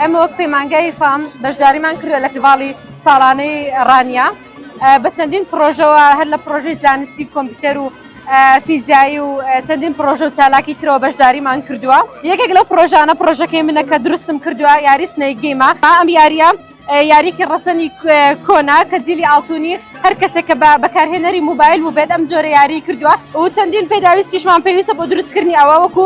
ئێمە وەک پەیمانگای فام بەشداریمان کردە لە تیڤاڵی ساڵانەی ڕانیە بە چەندین پرۆژەوە هەر لە پرۆژەی زانستی کۆمپیوتەر و فیزیایی و چەندین پرۆژە و چالاکی ترەوە بەشداریمان کردووە یەکێک لەو پرۆژانە پرۆژەکەی منە کە دروستم کردووە یاری سنەیگەیمە با ئەم یاریە یاریکی ڕسەنی کۆنا کە جیلی ئاڵتونی هەر کەسێک کە بە بەکارهێنەری موبایل و بێت ئەم جۆرە یاری کردووە و چەندین پێداویستیشمان پێویستە بۆ دروستکردنی ئەوە وەکو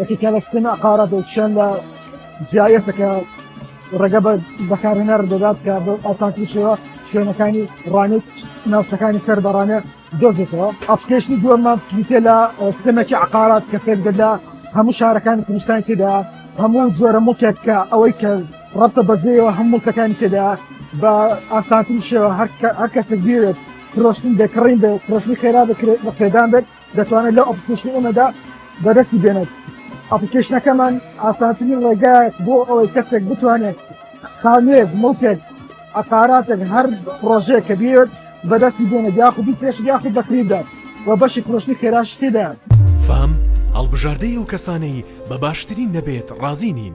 یەکێک لە سیستەمی عەقارات و کیشان لە GIS کە ڕێگە بە بەکارهێنەر دەدات کە بە ئاسانتری شێوە شوێنەکانی ڕانێت ناوچەکانی سەر بەڕانێ دۆزێتەوە ئەپلیکیشنی دووەمان پلیتە لە سیستەمێکی عەقارات کە پێک دەدا هەموو شارەکانی کوردستان تێدا هەموو جۆرە مڵکێک کە ئەوەی کە ڕەبتە بەزەیەوە هەم مڵکەکانی تێدا بە ئاسانتری شێوە هەر کە- هەر کەسێک بێت فرۆشتن بێکڕین بێت فرۆشتنی خێرا بکرێت بە پێدان بێت دەتوانێت لەو ئەپلیکەیشنی ئێمەدا بەدەستی بێنێت ئەپلیکەیشنەکەمان ئاسانترین ڕێگایەک بۆ ئەوەی کەسێک بتوانێت خانوێک مڵکێک عقاراتێک هەر پرۆژەیە کە بێت بەدەستی بێنێت یاخود بیفرێش یاخود بەکریدا و بەشی فرۆشتنی خێراش تێدا فام هەڵبژاردەی ئەو کەسانەی بە باشترین نەبێت ڕازی نین.